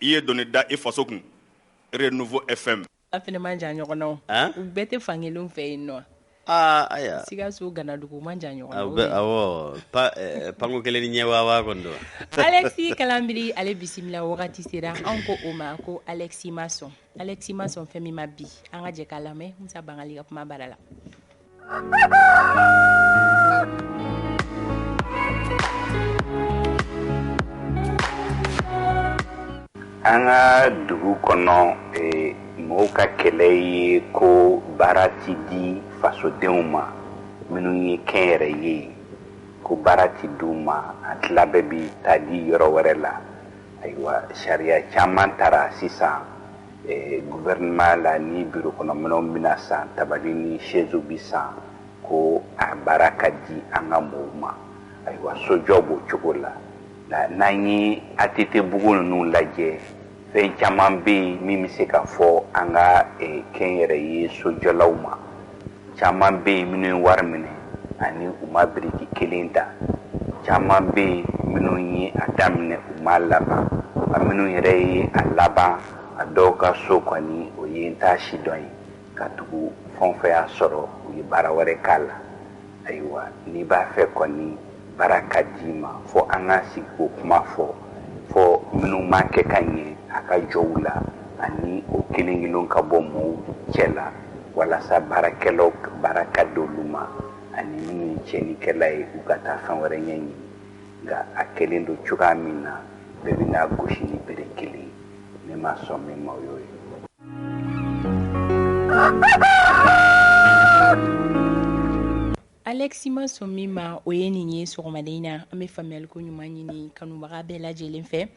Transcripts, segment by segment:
i ye dɔni da i faso kun renouveau fm a fɛnɛ man jan ɲɔgɔn na o An? u bɛɛ tɛ fan kelen fɛ yen nɔ aa aya sikaso ganadugu man jan ɲɔgɔn na o bɛ ye. awɔ pa eh, panko kelen ni ɲɛ waawaa kɔni don alexis kalanbiri ale bisimila wagati sera an ko o ma ko alexis ma sɔn alexis ma sɔn fɛn min ma bi an ka jɛ k'a lamɛn musa bangali ka kuma bara la an ka dugu kɔnɔ mɔgɔw ka kɛlɛ ye ko baara tɛ di fasodenw ma minnu ye kɛnyɛrɛ ye ko baara tɛ di u ma a tila bɛɛ bɛ taa di yɔrɔ wɛrɛ la ayiwa sariya caman tara sisan eh, guvɛrinema la ni biro kɔnɔminɛnw bɛna san tabali ni sɛzi bi san ko a baara ka di an ka mɔgɔw ma ayiwa sojɔ b'o cogo la n'an ye atete bugu ninnu lajɛ fɛn caman bɛ yen min bɛ se ka fɔ an ka eh, kɛnyɛrɛye sojɔlaw ma caman bɛ yen minnu ye wari minɛ ani u ma biriki kelen ta caman bɛ yen minnu ye a daminɛ u m'a laban a minnu yɛrɛ ye a laban a dɔw ka so kɔni o ye n t'a si dɔn ye katugu fɛn fɛn y'a sɔrɔ u ye baara wɛrɛ k'a la ayiwa n'i b'a fɛ kɔni baara ka d'i ma fo an ka sigi k'o kuma fɔ fo minnu m'a kɛ ka ɲɛ a ka jɔ u la ani o kelen kelen ka bɔ mɔɔw cɛ la walasa baarakɛlaw baara ka di olu ma ani minnu ye tiɲɛnikɛla ye u ka taa fɛn wɛrɛ ɲɛɲini nka a kɛlen don cogoya min na bɛɛ bɛna gosi ni bere kelen ne ma sɔn min ma o y'o ye Alexis ma sɔn min ma o ye nin ye sɔgɔmada in na an bɛ faamuyali ko ɲuman ɲini kanubaga bɛɛ lajɛlen fɛ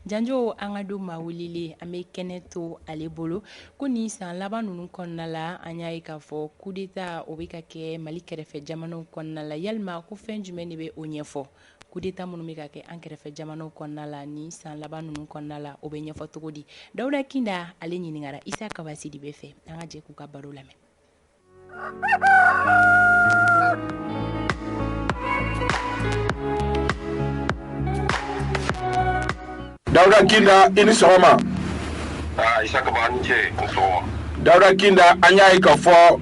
janjo an ka don maa welelen an bɛ kɛnɛ to ale bolo ko nin san laban ninnu kɔnɔna la an y'a ye k'a fɔ kudeta o bɛ ka kɛ mali kɛrɛfɛ jamanaw kɔnɔna la yalima ko fɛn jumɛn de bɛ o ɲɛfɔ kudeta minnu bɛ ka kɛ an kɛrɛfɛ jamanaw kɔnɔna la nin san laban ninnu kɔnɔna la o bɛ ɲɛfɔ cogo di dawuda kinda ale ɲininkara isa kaba sidibe fɛ an ka jɛ k'u ka baro lamɛn dawuda kinda i ni sɔgɔma dawuda kinda an y'a ye k'a fɔ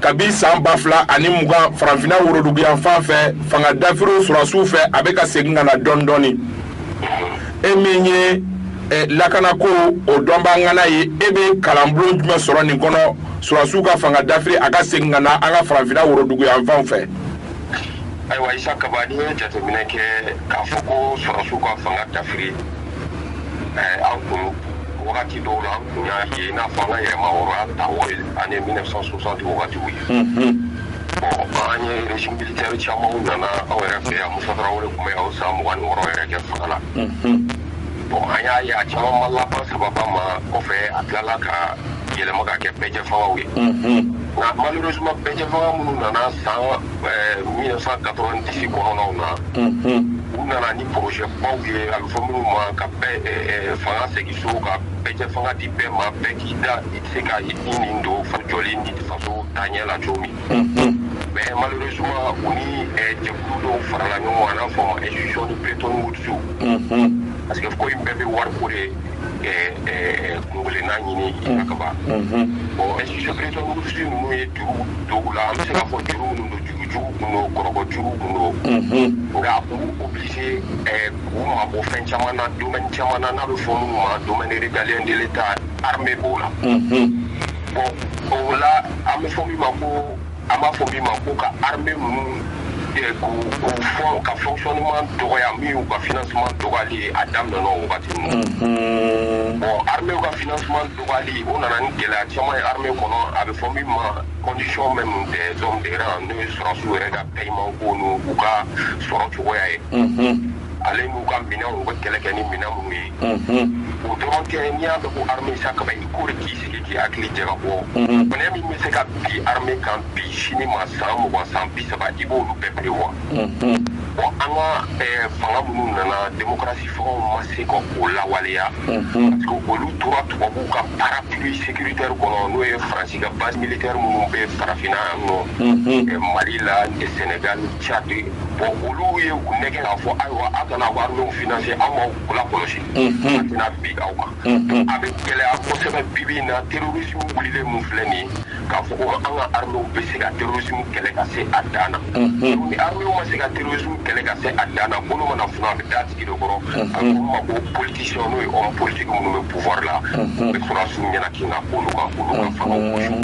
kabi san ba fila ani mugan farafinna woroduguyanfan fɛ fanga dafiriw sɔrɔsiw fɛ a bɛ ka segin ka na dɔɔni dɔɔni e min ye eh, lakanako o dɔnba ŋana ye e bɛ kalanbulon jumɛn sɔrɔ nin kɔnɔ sɔrɔsiw ka fanga dafiri a ka segin ka na an ka farafinna woroduguyanfanw fɛ ayiwa Isa Kaba n'i ye jateminɛ kɛ k'a fɔ ko sɔrɔsiw ka fanga dafiri eh, an kun wagati dɔw la an kun y'a ye i n'a fɔ an ka yɛrɛmahɔrɔnya ta o ye années 1960 wagatiw ye an ye régime militaire camanw nana aw yɛrɛ fɛ yan Musa Tarawele tun bɛ aw san mugan ni wɔɔrɔ yɛrɛ kɛ fanga la bon an y'a ye a caman ma laban sababa ma kɔfɛ a tilala ka yɛlɛma ka kɛ bɛɛjɛfangaw ye nka malheureusement bɛɛjɛfanga minnu nana san 1990 kɔnɔnaw na u nana ni projet baw ye a bɛ fɔ minnu ma ka fanga segin so ka bɛɛjɛfanga di bɛɛ ma bɛɛ k'i da se ka i nin don faso jɔli ni faso taɲɛ la cogo min mais malheureusement u ni jɛkulu dɔw farala ɲɔgɔn kan n'a fɔ ma institution de Bretton Woods parce que ko in bɛɛ bɛ wari ko de kunkelenna ɲini Isa Kaba bon institution Bretton Woods ninnu ye juru don u la an bɛ se k'a fɔ juru minnu don juru jugu kun don kɔrɔbɔ juru kun don nka u obligé k'u mabɔ fɛn caman na domaine caman na n'a bɛ fɔ minnu ma domaine régalien de l'Etat armée b'o la bon o la an bɛ fɔ min ma ko an b'a fɔ min ma ko ka armée ninnu k'u u fɔ ka fonctionnement dɔgɔya min y'u ka financement dɔgɔyali ye a daminɛna o wagati ninnu bon armée ka financement dɔgɔyali o nana ni gɛlɛya caman ye armée kɔnɔ a bɛ fɔ min ma condition même des hommes de rang n'o ye sɔrɔsiw yɛrɛ ka paiement ko n'u ka sɔrɔ cogoya ye ale n'u ka minɛnw u bɛ kɛlɛ kɛ ni minɛn minnu ye o dɔrɔn tɛ n'i y'a dɔn ko armée Isa Kaba i k'o de k'i sigi k'i hakili jagabɔ minɛ min bɛ se ka bin armée kan bi sini ma san mugan san bi saba i b'olu bɛɛ prévoir bon an ka eh, fanga minnu nana démocratie fangaw ma se ka o lawaleya parce que olu tora tubabuw ka parapluie sécuritaire kɔnɔ n'o ye faransi ka base militaire minnu bɛ farafinna yan nɔ eh, mali la eh, sénégal Tchad bon olu ye u nɛgɛn k'a fɔ ayiwa aw kana armée financer aw ma kula kɔlɔsi tɛna bin aw ma a bɛ gɛlɛya kosɛbɛ bibi na terrorisme wulilen min filɛ nin ye k'a fɔ ko an ka armée bɛ se ka terrorisme kɛlɛ ka se a dan na ni armée ma se ka terrorisme kɛlɛ ka se a dan na bolo mana f a bɛ da sigi kɔrɔ a ma ko politicien n'o ye homme politique minnu bɛ pouvoir la bɛ sɔrɔsiw ɲɛna kin ka kan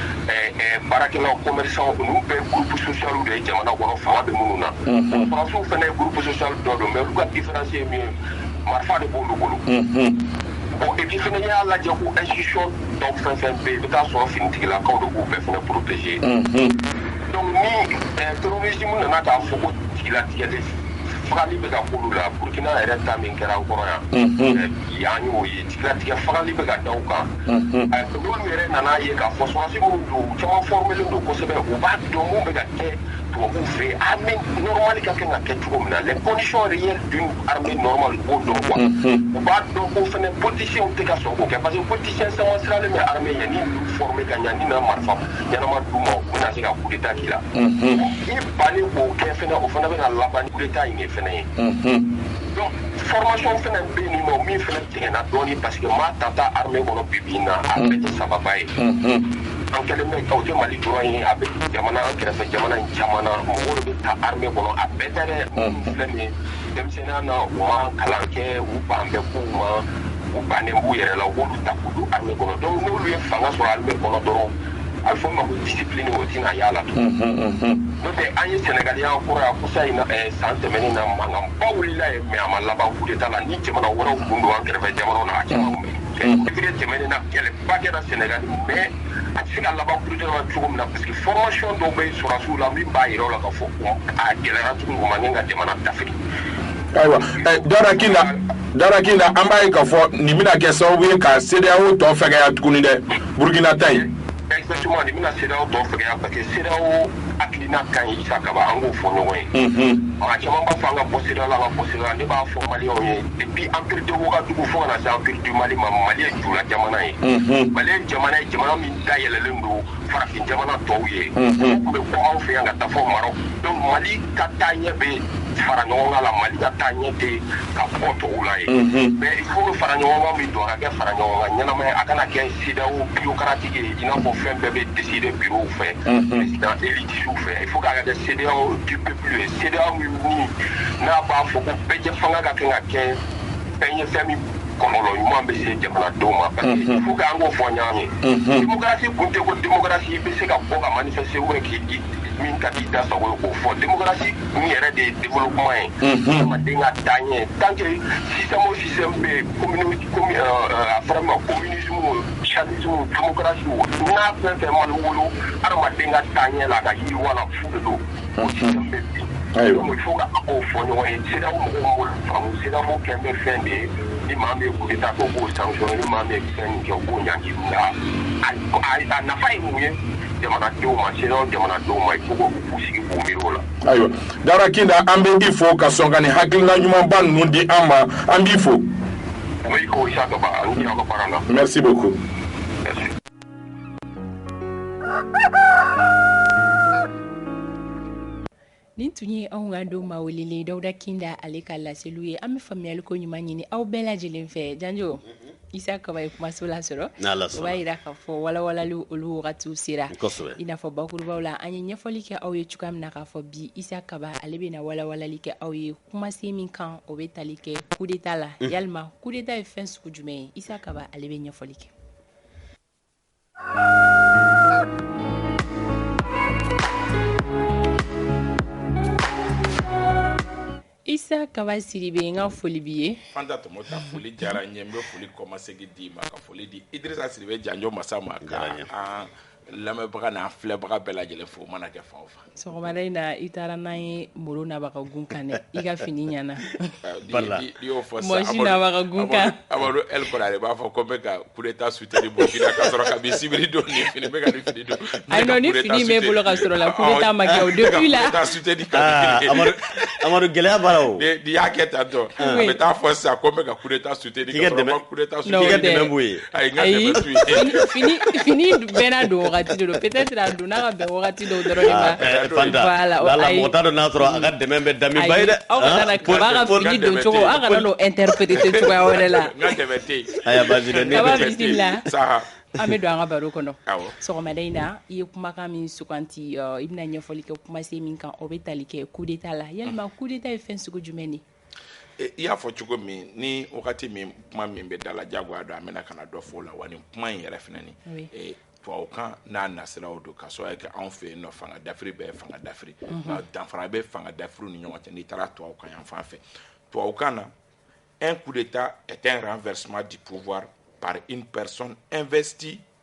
baarakɛlaw commerçants olu bɛɛ groupe social de ye jamana kɔnɔ fanga bɛ minnu na sɔrɔsiw fɛnɛ groupe social dɔ don mais olu ka différence ye min ye marifa de b'olu bolo bon et puis fana n'i y'a lajɛ ko institution dɔw fɛn fɛn bɛ yen i bɛ taa sɔrɔ finitigilakaw de b'u bɛɛ fana protéger donc ni terrorisme nana k'a fɔ ko jigilatigɛ de fagali bɛ ka k'olu la burkina yɛrɛ ta min kɛra an kɔrɔ yan yan y'o ye latigɛ fagali bɛ ka da u kan olu yɛrɛ nana ye k'a fɔ sɔrɔsi minnu don u caman fɔrɔmelen don kosɛbɛ u b'a dɔn mun bɛ ka kɛ tubabuw fɛ yen armée normale ka kan ka kɛ cogo min na les conditions réelles d'une armée normale u b'o dɔn quoi u b'a dɔn ko fɛnɛ politiciens tɛ ka sɔn k'o kɛ parce que politicien caman siranlen bɛ armée ɲɛ ni ninnu former ka ɲɛ n'i na marifa ɲɛnama d'u ma u bɛna se ka coup d'état k'i la i bannen k'o kɛ fɛnɛ o fana bɛna laban ni coup d'état in de fɛnɛ ye Donc formation fana bɛ yen nɔ min fana tiɲɛna dɔɔnin parce que maa tata armée kɔnɔ bi bi in na a bɛɛ tɛ sababa ye. An kɛlen bɛ ka o tɛ Mali dɔrɔn ye a bɛ jamana an kɛrɛfɛ jamana in caman na mɔgɔw de bɛ ta armée kɔnɔ a bɛɛ tɛ dɛ. Minnu filɛ nin ye denmisɛnya na u ma kalan kɛ u ban bɛ kow ma u bannen b'u yɛrɛ la u b'olu ta k'u don armée kɔnɔ donc n'olu ye fanga sɔrɔ armée kɔnɔ dɔrɔn a bɛ fɔ ma ko discipline o tɛna y'a la tugun n'o tɛ an ye Senegal y'an kɔrɔ yan kɔsa in na eh, san tɛmɛnen na mankanba wulila yen mais a ma laban coup d'état la ni jamana wɛrɛw kun don an kɛrɛfɛ jamanaw na a caman kun bɛ yen février tɛmɛnen na kɛlɛba kɛra Senegal mais a tɛ se ka laban coup d'état la cogo min na parce que formation dɔw bɛ yen sɔrɔdasiw la min b'a jira u la k'a fɔ ko a gɛlɛyara tuguni u man ɲi ka jamana dafiri ayiwa eh, Dawuda Kinda dawuda kinda an b'a ye k'a fɔ nin bɛna kɛ sababu ye ka sedeyawo tɔ fɛgɛya tuguni dɛ burukina ta in exactement nin bɛna sedeyawo tɔ fɛgɛya parce que sedeyawo hakilina ka ɲi isa kaba an k'o fɔ ɲɔgɔn ye maa caman b'a fɔ an ka bɔ sedeyawo la an ka bɔ sedeyawo la ne b'a fɔ maliyɛnw ye depuis empire de wagadu fo ka na se empire du mali ma mali ye jula jamana ye mali ye jamana ye jamana min dayɛlɛlen don farafin jamana tɔw ye u tun bɛ bɔ anw fɛ yan ka taa fo marɔk donc mali ka taaɲɛ bɛ faraɲɔgɔnkan la mali ka taaɲɛ tɛ ka bɔ tɔw la ye mais il faut que faraɲɔgɔnkan min don a ka kɛ faraɲɔgɔnkan ɲɛnama ye a kana kɛ CEDEAO bureaucratique ye i n'a fɔ fɛn bɛɛ bɛ décider bureau fɛ président élitesw fɛ il faut k'a ka kɛ CEDEAO du peuple ye CEDEAO min min n'an b'a fɔ ko bɛɛjɛ fanga ka kan ka kɛ fɛn ye fɛn min kɔlɔlɔ ɲuman bɛ se jamanadenw ma parce que il faut que an k'o fɔ ɲɔgɔn ye démocratie kun tɛ ko démocratie i bɛ se ka bɔ ka manifester ou bien k'i min ka di i da sago ye k'o fɔ démocratie n yɛrɛ de ye développement ye adamaden ka taaɲɛ tant que système o système bɛ yen commune commune a fɔra min ma communisme o socialisme démocratie o n'a fɛn fɛn ma wolo a ra adamaden ka taaɲɛ la a ka yiriwa la fu de don o système bɛ bin Ayiwa. donc il faut k'an k'o fɔ ɲɔgɔn ye CEDEAO mɔgɔw m'o faamu CEDEAO kɛn bɛ fɛn de ye ni maa min ye coup d'état kɛ o b'o sanctionner ni maa min ye fɛn min kɛ o b'o ɲangi nka a a a nafa ye mun ye jamanadenw ma CEDEAO jamanadenw ma il faut k'o ayiwa dawuda kinda an bɛ i fo ka sɔn ka nin hakilina ɲumanba ninnu di an ma an b'i fo merci beaucoup nin tun ye anw ka don ma welelen dawuda kinda ale ka laseliw ye an bɛ faamuyali ko ɲuman ɲini aw bɛɛ lajɛlen fɛ janjo Isa Kaba ye kumaso lasɔrɔ o b'a yira k'a fɔ walawalali olu wagatiw sera i n'a fɔ bakurubaw la an ye ɲɛfɔli kɛ aw ye cogoya min na k'a fɔ bi Isa Kaba ale bɛna walawalali kɛ aw ye kumasen min kan o bɛ tali kɛ coup d'état la yalima coup d'état ye fɛn sugu jumɛn ye Isa Kaba ale bɛ ɲɛfɔli kɛ Isa Kaba Sidibe n ka foli b'i ye Fanta Tɔmɔta foli diyara n ye n bɛ foli kɔmasegin d'i ma ka foli di Idrisa Sidibe janjo masa ma ka an lamɛnbaga n'an filɛbaga bɛɛ lajɛlen fo mana kɛ fan o fan Sɔgɔmada in na i taara n'an ye Moro Naba ka gun kan dɛ, i ka fini ɲɛna, voila, i y'o fɔ sisan, Mɔsi Naba ka gun kan, Amadu El Kɔnare b'a fɔ ko n bɛ ka coup d'Etat soutenir Burkina k'a sɔrɔ kabini sibiri don nin fini n bɛ ka nin fini don, ayi non ni fini in b'e bolo ka sɔrɔ la coup d'Etat ma kɛ o depuis la, aa Amadu gɛlɛya b'a la o, n'i y'a kɛ tan tɔw bɛ taa fɔ sisan ko n bɛ ka coup d'Etat soutenir Fini bɛɛ don don pte dɔw dɔrɔn la dɔn n'a sɔrɔ an ka dɛmɛ bɛ dami ye dɛ aw doncogo aw kana don e tɛ pte wɛrɛ la an bɛ don an ka baro kɔnɔ sɔgɔmaden in na i ye kumakan min suganti i bɛna ɲɛfɔli kɛ kuma se min kan o bɛ tali kɛ kule t'a la yɛlɛma kule ta ye fɛn segu jumɛn de i y'a fɔ cogo min ni wagati min kuma min bɛ da la jagoya don an bɛna ka na dɔ fɔ o la wa nin kuma in yɛrɛ fana ni tubabukan n'a nasiraw don ka sɔrɔ kɛ anw fɛ yen nɔ fanga dafiri bɛɛ fanga dafiri mhm. nka danfara bɛ fanga dafiriw ni ɲɔgɔn cɛ n'i taara tubabukan yan fan fɛ tubabukan na un coup d'état est un renversement du pouvoir par une personne investie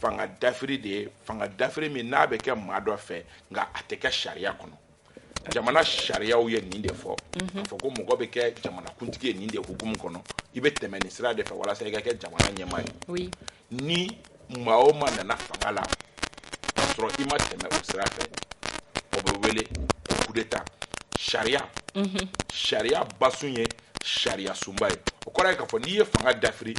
fanga dafiri de ye fanga dafiri min n'a bɛ kɛ maa dɔ fɛ nka a tɛ kɛ sariya kɔnɔ jamana sariyaw ye nin de fɔ k'a fɔ ko mɔgɔ bɛ kɛ jamanakuntigi ye nin de hukumu kɔnɔ i bɛ tɛmɛ nin sira de fɛ walasa i ka kɛ jamana ɲɛmaa ye ni maa o maa nana fanga la k'a sɔrɔ i ma tɛmɛ o sira fɛ o bɛ wele ko kudeta sariya sariya basun ye sariya sunba ye o kɔrɔ ye k'a fɔ n'i ye fanga dafiri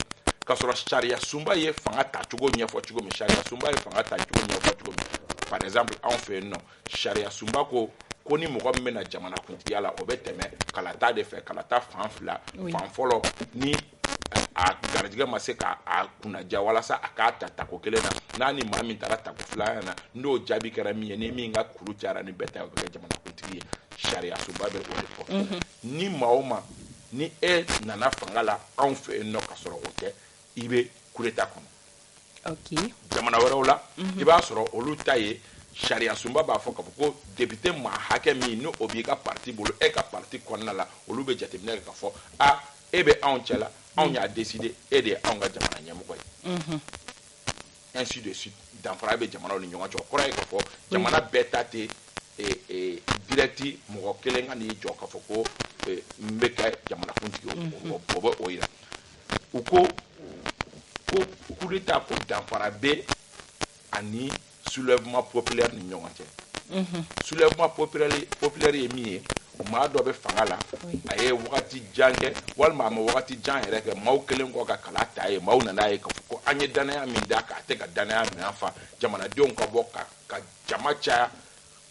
k'a sɔrɔ sariya sunba ye fanga tacogo ɲɛfɔ cogo min sariya sunba ye fanga tacogo ɲɛfɔ cogo min par exemple anw fɛ yen nɔ sariya sunba ko ko ni mɔgɔ min bɛ na jamanakuntigiya la o bɛ tɛmɛ kalata de fɛ kalata fan fila fan fɔlɔ ni a garijɛgɛ ma se k'a kunnadiya walasa a k'a ta tako kelen na n'a ni maa min taara tako filanan na n'o jaabi kɛra min ye ni min ka kuru cayara ni bɛɛ ta o bɛ kɛ jamanakuntigi ye sariya sunba bɛ o de fɔ Ni maa o maa ni e nana fanga la anw fɛ yen nɔ k'a sɔrɔ o tɛ, i bɛ coup d'Etat kɔnɔ. Ok. Jamana wɛrɛw la, i b'a sɔrɔ olu ta ye sariyasunba b'a fɔ k'a fɔ ko député maa hakɛ min ni o b'i ka parti bolo, e ka parti kɔnɔna la, olu bɛ jateminɛ kɛ k'a fɔ a e bɛ anw cɛla, anw y'a décider e de ye anw ka jamana ɲɛmɔgɔ ye. ainsi de suite danfara bɛ jamanaw ni ɲɔgɔn cɛ o kɔrɔ ye k'a fɔ jamana bɛɛ ta tɛ direct mɔgɔ kelen ka n'i jɔ k'a fɔ ko n bɛ kɛ jamanakuntigi ye mm-hmm. o bɛ o yira u ko ko kudeta ko danfara bɛ a ni soulèvement populaire ni ɲɔgɔn cɛ mm-hmm. soulèvement populaire ye min ye maa dɔ bɛ fanga la a ye wagati jan kɛ walima a ma wagati jan yɛrɛ kɛ maaw kɛlen kɔ ka kala t'a ye maaw nan'a ye k'a fɔ ko an ye dannaya min d'a kan a tɛ ka dannaya minɛn fa jamanadenw ka bɔ ka ka jama caya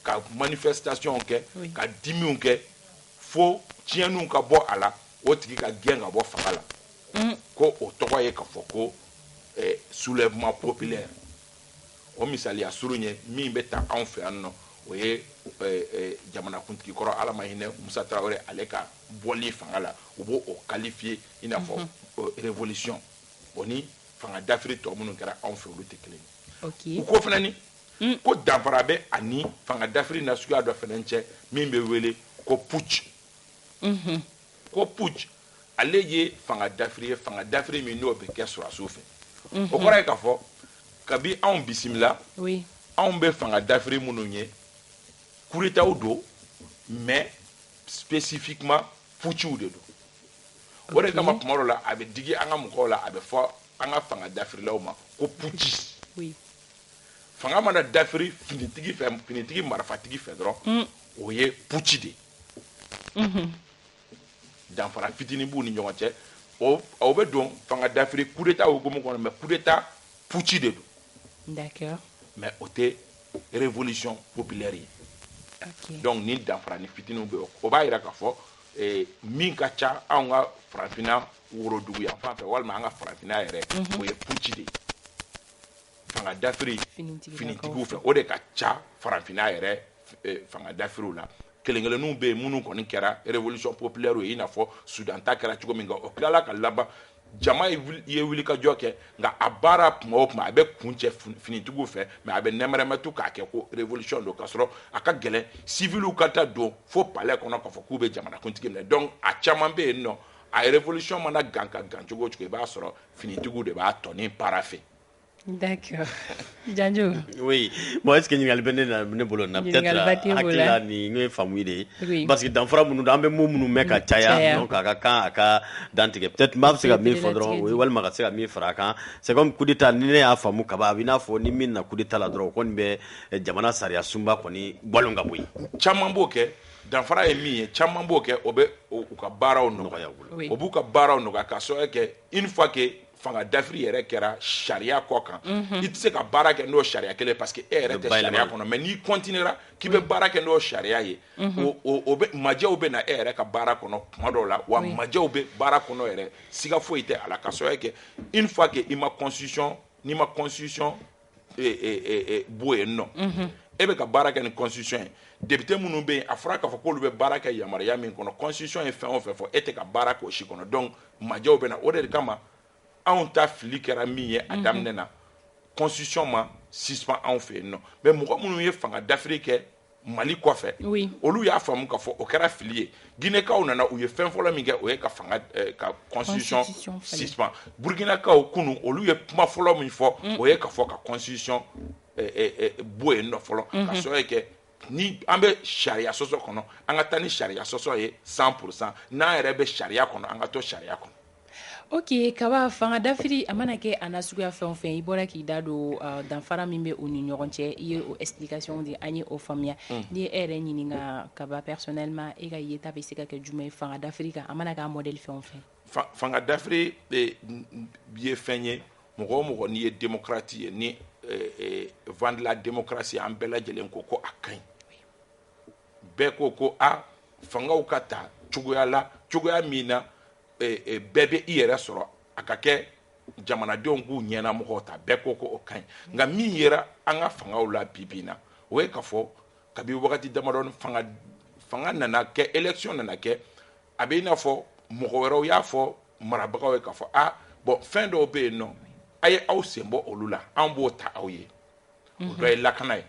ka manifestation kɛ ka dimiw kɛ fo tiɲɛniw ka bɔ a la o tigi ka gɛn ka bɔ fanga la mm. ko o tɔgɔ ye k'a fɔ ko eh, soulèvement populaire O misaliya surun ye min bɛ ta anw fɛ yan nɔ o ye jamanakuntigi kɔrɔ ala ma hinɛ musa tarawele ale ka bɔli fanga la u b'o qualifier i n'a fɔ révolution o ni fanga dafiri tɔ minnu kɛra anw fɛ olu tɛ kelen u ko fana ko danfara bɛ a ni fanga dafiri na suguya dɔ fana cɛ min bɛ wele ko putsch ko putsch ale ye fanga dafiri ye fanga dafiri min n'o bɛ kɛ sɔrɔdasiw fɛ o kɔrɔ ye k'a fɔ kabi anw bisimila anw bɛ fanga dafiri minnu ye kudetaw don mais spécifiquement puciw de don o de kama kuma dɔ la a bɛ digi an ka mɔgɔw la a bɛ fɔ an ka fanga dafirilaw ma ko puci fanga mana dafiri finitigi marifatigi fɛ dɔrɔn o ye puci de ye danfara fitinin b'u ni ɲɔgɔn cɛ aw bɛ don fanga dafiri coup d'état hukumu kɔnɔ mais coup d'état putsch de don mais o tɛ révolution populaire ye donc ni danfaranin fitinin bɛ o b'a jira k'a fɔ eh, min ka ca anw ka farafinna worodugu yanfan fɛ walima an ka farafinna yɛrɛ mhm. o ye putsch de ye fanga dafiri finitigiw fɛ o de ka ca farafinna yɛrɛ fanga dafiriw la kelenkelenninw bɛ yen minnu kɔni kɛra révolution populaire ye i n'a fɔ Soudan ta kɛra cogo min nka o tilala ka laban jama ye wulikajɔ kɛ nka a baara tuma o tuma a bɛ kuncɛ finitigiw fɛ mais a bɛ nɛmɛrɛmɛtu k'a kɛ ko révolution don k'a sɔrɔ a ka gɛlɛn civiliw ka taa don fo palais kɔnɔ k'a fɔ k'u bɛ jamanakuntigi minɛ donc a caman bɛ yen nɔ a révolution mana gan ka gan cogo o cogo i b'a sɔrɔ finitigiw de b'a tɔni para fɛ Janjo bon est-ce que ɲininkali bɛ ne bolo na peut-être n'o ye faamu de ye parce que danfara minnu an bɛ mun minnu mɛn ka caya donc a ka kan a ka dantigɛ peut-être maa bɛ se ka min fɔ dɔrɔn o ye walima ka se ka min fara a kan c'est comme coup d'état ni ne y'a faamu kaba a bɛ i n'a fɔ ni min na coup d'état la dɔrɔn o kɔni bɛ jamana sariyasunba kɔni ka bɔ yen caman b'o kɛ danfara ye min ye caman b'o kɛ o b'u ka baaraw nɔgɔya u bolo o b'u ka baaraw nɔgɔya ka sabu kɛ une fois que fanga dafiri yɛrɛ kɛra sariya kɔkan mhm. i tɛ se ka baara kɛ n'o sariya kelen parce que e yɛrɛ tɛ sariya kɔnɔ mais n'i continuera k'i bɛ mhm. baara kɛ n'o sariya ye mhm. o bɛ majɛw bɛ na e yɛrɛ ka baara kɔnɔ kuma dɔw la wa majɛw bɛ baara kɔnɔ yɛrɛ siga foyi tɛ a la ka sabu kɛ une fois que i ma constitution n'i ma constitution e, e, e, e, bɔ yen nɔ mm -hmm. e bɛ ka baara kɛ ni constitution ye député minnu bɛ yen a fɔra k'a fɔ k'olu bɛ baara kɛ yamaruya min kɔnɔ constitution ye fɛn o fɛn fɔ e tɛ ka baara k'o si kɔnɔ donc majɛw bɛ na o de kama anw ta fili kɛra min ye a mhm. daminɛ na constitution ma suspend anw fɛ yen nɔ mais mɔgɔ minnu ye fanga dafiri kɛ mali kɔfɛ oui. olu y'a faamu k'a fɔ o kɛra fili ye ginekaw nana u ye fɛn fɔlɔ min kɛ o ye ka fanga eh, ka constitution suspend burkinakaw kunu olu ye kuma fɔlɔ min fɔ mm. o ye k'a fɔ ka constitution eh, eh, eh, bɔ yen nɔ fɔlɔ mm -hmm. ka mhm. sabu kɛ ni an bɛ sariya sɔsɔ kɔnɔ an ka taa ni sariya sɔsɔ ye 100 pourcent n'an yɛrɛ bɛ sariya kɔnɔ an ka to sariya kɔnɔ Ok kaba fanga dafiri a mana kɛ a na suguya fɛn o fɛn i bɔra k'i da don danfara min bɛ u ni ɲɔgɔn cɛ i ye o explication di an ye o faamuya ni e yɛrɛ ɲininkara kaba personnellement e ka yeta bɛ se ka kɛ jumɛn ye fanga dafiri kan a mana k'a modèle fɛn o fɛn fanga dafiri ye fɛn ye mɔgɔ o mɔgɔ n'i ye démocrate ye ni vent de la démocratie an bɛɛ lajɛlen ko ko a ka ɲi bɛɛ ko ko a fangaw ka ta cogoya la cogoya min na bɛɛ bɛ i yɛrɛ sɔrɔ a ka kɛ jamanadenw k'u ɲɛna mɔgɔw ta bɛɛ ko ko o ka ɲi nka min yera an ka fangaw la bibi na o ye ka fɔ kabi wagati damadɔ fanga nana kɛ élection nana kɛ a bɛ i n'a fɔ mɔgɔ wɛrɛw y'a fɔ marabagaw ye ka fɔ a bon fɛn dɔw bɛ yen nɔ a ye aw sen bɔ olu la an b'o ta aw ye o dɔ ye lakana ye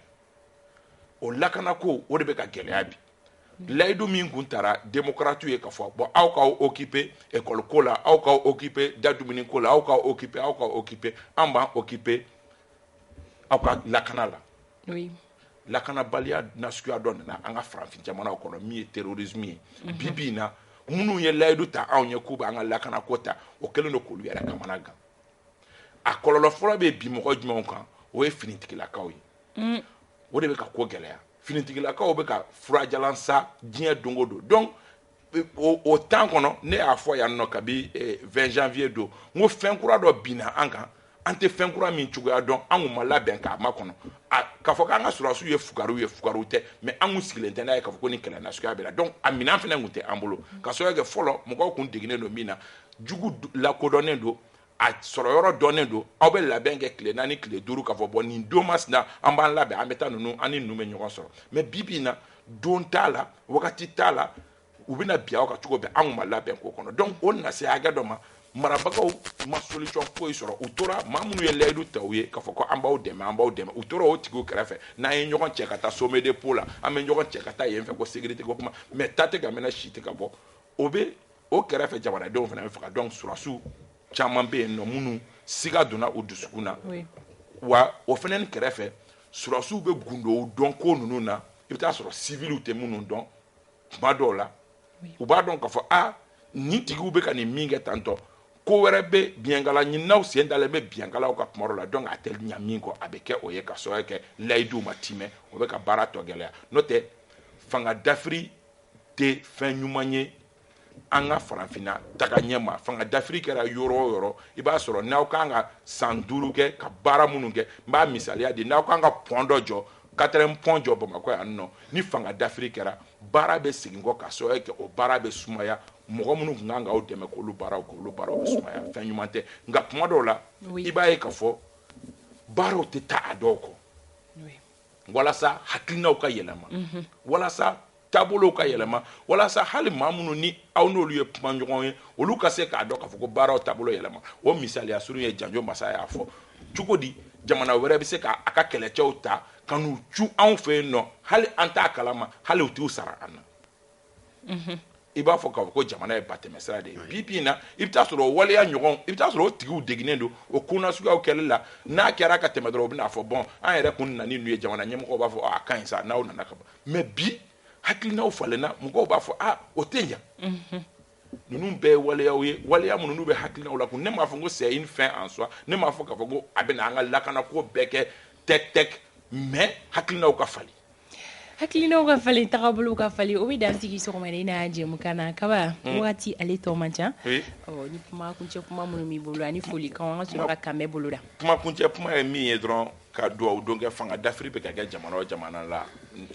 o lakana ko o de bɛ ka gɛlɛya bi layidu min kun tara demokratiw ye ka fɔ bon aw k'aw occuper école ko la aw k'aw occuper da dumuni ko la aw k'aw occuper aw k'aw occuper an b'an occuper aw ka lakana la lakanabaliya nasuguya dɔ nana an ka farafin jamanaw kɔnɔ min ye terrorisme ye bi bi na minnu ye layidu ta anw ye k'u bɛ an ka lakana ko ta o kɛlen don k'olu yɛrɛ kamanagan a kɔlɔlɔ fɔlɔ bɛ bin mɔgɔ jumɛn kan o ye finitigilakaw ye mm. o de bɛ ka ko gɛlɛya finitigilakaw bɛ ka furajalan sa diɲɛ don o don donc o, o temps kɔnɔ ne y'a fɔ yan nɔ kabi eh, 20 janvier don n ko fɛn kura dɔ binna an kan an tɛ fɛn kura min cogoya dɔn an kun ma labɛn k'a makɔnɔ k'a fɔ k'an ka sɔrɔdasiw ye fugariw ye fugariw tɛ mais an kun sigilen tɛ n'a ye k'a fɔ ko nin kɛlɛ nasuguya bɛ na donc a minɛn fana kun tɛ an bolo ka sababu kɛ fɔlɔ mɔgɔw kun deginnen don min na jugu lakodɔnnen don a sɔrɔ yɔrɔ dɔnnen don aw bɛ labɛn kɛ tile naani tile duuru k'a fɔ bon nin don masina an b'an labɛn an bɛ taa ninnu an ni ninnu bɛ ɲɔgɔn sɔrɔ mais bibi in na don t'a la wagati t'a la u bɛ na bin aw kan cogo bɛɛ an ma labɛn k'o kɔnɔ donc o na se hakɛ dɔ ma marabagaw ma solution foyi sɔrɔ u tora maa minnu ye layidu ta u ye k'a fɔ ko an b'aw dɛmɛ an b'aw dɛmɛ u tora o tigiw kɛrɛfɛ n'an ye ɲɔgɔn cɛ ka taa sommet de Pau la an bɛ ɲɔgɔn cɛ ka taa yen fɛ ko sécurité ko kuma mais ta tɛ ka mɛnɛ sisi tɛ ka bɔ o bɛ o kɛrɛfɛ jamanadenw fana bɛ faga donc sɔrɔdasiw caman bɛ yen nɔ minnu siga donna u dusukun na wa o fana ni kɛrɛfɛ sɔrɔdasiw bɛ gundo dɔn ko ninnu na i bɛ taa a sɔrɔ civiliw tɛ minnu dɔn tuma dɔw la u b'a dɔn k'a fɔ a nin tigiw bɛ ka nin min kɛ tantôt ko wɛrɛ bɛ biɲɛkala ɲininaw sen dalen bɛ biɲɛkalaw kan kuma dɔ la donc a tɛ ɲɛ min kɔ a bɛ kɛ o ye ka sababu kɛ layidu ma timɛ o bɛ ka baara tɔ gɛlɛya n'o tɛ fanga dafiri tɛ fɛn ɲuman ye an ka farafinna tagaɲɛ ma fanga dafiri kɛra yɔrɔ o yɔrɔ i b'a sɔrɔ n'aw kan ka san duuru kɛ ka baara minnu kɛ n b'a misaliya di n'aw kan ka pont dɔ jɔ quatrième pont jɔ bamakɔ yan nɔ ni fanga dafiri kɛra baara bɛ segin kɔ ka sababu kɛ o baara bɛ sumaya mɔgɔ minnu kun kan k'aw dɛmɛ k'olu baaraw kɛ olu baaraw bɛ sumaya fɛn ɲuman tɛ nka kuma dɔw la i b'a ye k'a fɔ baaraw tɛ taa a dɔw kɔ walasa hakilinaw ka yɛlɛma walasa taabolow ka yɛlɛma walasa hali maa minnu ni aw n'olu ye kumaɲɔgɔn ye olu ka se k'a dɔn k'a fɔ ko baaraw taabolo yɛlɛma o misaliya surun ye janjo masa y'a fɔ cogo di jamana wɛrɛ bɛ se k'a ka kɛlɛcɛw ta ka n'u cun anw fɛ yen nɔ hali an t'a kalama hali u t'u sara an na i b'a fɔ k'a fɔ ko jamana ye batɛmɛsira de ye bi bi in na i bɛ taa sɔrɔ o waleya ɲɔgɔn i bɛ taa sɔrɔ o tigiw deginnen don o ko nasuguyaw kɛli la n'a kɛra ka tɛmɛ dɔrɔn u bɛna fɔ bon an yɛrɛ kun nana ni ninnu ye jamana ɲɛmɔgɔw b'a fɔ a ka ɲi sa n'aw nana ka ban mais bi hakilinaw falenna mɔgɔw b'a fɔ a o tɛ ɲa ninnu bɛɛ ye waleyaw ye waleya minnu n'u bɛ hakilinaw lakunun ne m'a fɔ ko c'est une fin en soi ne m'a fɔ k'a fɔ ko a bɛna an ka lakanako bɛɛ kɛ tɛk tɛk mais hakilinaw ka falen hakilinaw ka falen tagabolow ka falen o bɛ dan sigi sɔgɔmada in na jɛmukan na kaba hmm. wagati ale tɔ man ca ɔ ni kuma kuncɛ kuma minnu b'i bolo ani folikan an ka sɔrɔ ka kanbɛn boloda kuma kuncɛ kuma ye min ye dɔrɔn ka duwawu don kɛ fanga dafiri bɛ ka kɛ jamana o jamana la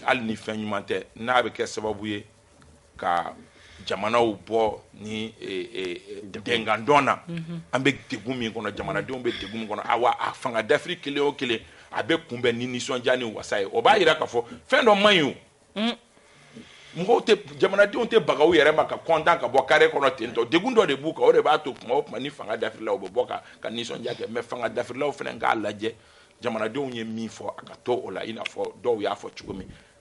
hali ni fɛn ɲuman tɛ n'a bɛ kɛ sababu ye ka jamanaw bɔ ni dengandɔn na an bɛ degun min kɔnɔ jamanadenw bɛ degun min kɔnɔ a fanga dafiri kelen o kelen a bɛ kunbɛn ni nisɔndiya ni wasa ye o b'a jira k'a fɔ fɛn dɔ man ɲi o mɔgɔw tɛ jamanadenw tɛ baga u yɛrɛ ma ka kɔntan ka bɔ carré kɔnɔ ten tɔ degun dɔ de b'u kan o de b'a to tuma o tuma ni fanga dafirila u bɛ bɔ ka nisɔndiya kɛ mais fanga dafirilaw fana k'a lajɛ jamanadenw ye min fɔ a ka to o la i n'a fɔ dɔw y'a fɔ cogo min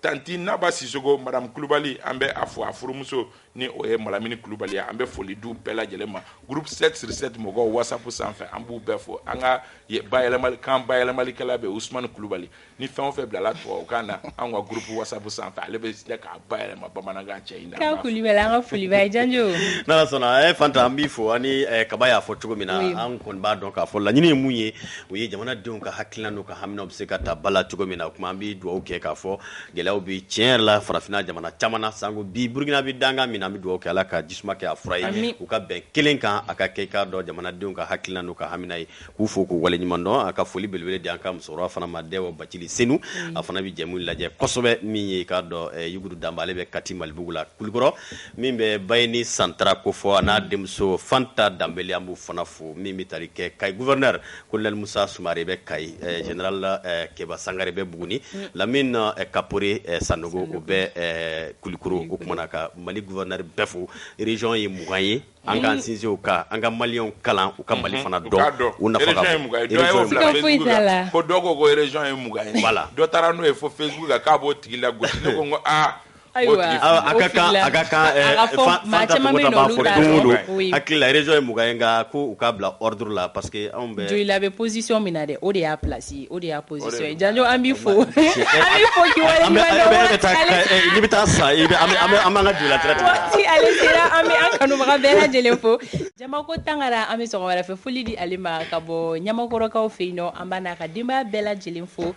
tanti naba sisoko madame kulubali an bɛ a fo a furumuso ni o ye malamini kulubali ye an bɛ foli d'u bɛɛ lajɛlen ma groupe 7 sur 7 mɔgɔw whatsapp sanfɛ an b'u bɛɛ fo an ka bayɛlɛmali kan bayɛlɛmalikɛla bɛ usmani kulubali ni fɛn o fɛn bilala tubabukan na an ka groupe whatsapp sanfɛ ale bɛ se k'a bayɛlɛma bamanankan cɛ in na kan kulubali an ka foli b'a ye janjo n'ala sɔnna eh, fanta an b'i fo ani eh, kaba y'a fɔ cogo min na an kɔni b'a dɔn k'a fɔ laɲini ye mun ye o ye jamanadenw ka hakilina n'u ka haminaw bɛ se ka ta ba la cogo min na o tuma an bɛ dugawu kɛ k'a fɔ gɛlɛyaw bɛ tiɲɛ yɛrɛ la farafinna jamana caman na sango bi Burukina bɛ dankan min na an bɛ dugawu kɛ Ala ka jisuma kɛ a fura ye amin u ka bɛn kelen kan a ka kɛ i k'a dɔn jamanadenw ka hakilina n'u ka hamina ye k'u fo k'u waleɲuman dɔn a ka foli belebele di an ka musokɔrɔba fana ma Dɛwɔ Bacili Senu a fana bɛ jɛmu in lajɛ kosɛbɛ min ye i k'a dɔn Yugudu Danba ale bɛ Kati Malibugu la Kulikɔrɔ min bɛ bay ni santa ko fɔ a n'a denmuso fanta danb an b'u fana fo min bɛ tari kɛ ka gɛ ko lamusa sri bɛ ka jdala kɛba sanga bɛ bugun lammi na kapre san u bɛ kulukoro o tumaumana na ka mali gɛ bɛɛ fo rez ye mugan ye an kaan sinsin ka an ka mali kalan u ka mali fana dɔn la dɔw ko ko rez ye mugan la dɔ taara n'o ye fɔ fɛn k'a'o tigi la Ayiwa akilare ye mugan in kan ko u k'a bila duru la parce que anw bɛ joli labɛn psisi min na dɛ o de y'a plasi o de y'a psi jan an bɛ fɔ i bɛ taa sa an ka an bɛ kanubaga bɛɛ lajɛlen fo jama ko tangara an bɛ wɛrɛ fɛ foli di ale ma ka bɔ ɲamakɔrɔkaw fɛ yen nɔ an' ka denbaya bɛɛ lajɛlen fo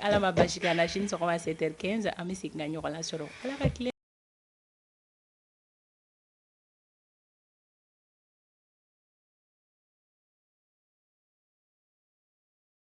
Ala ma baasi k'an na sini sɔgɔma sept heures quinze an bɛ segin ka ɲɔgɔn lasɔrɔ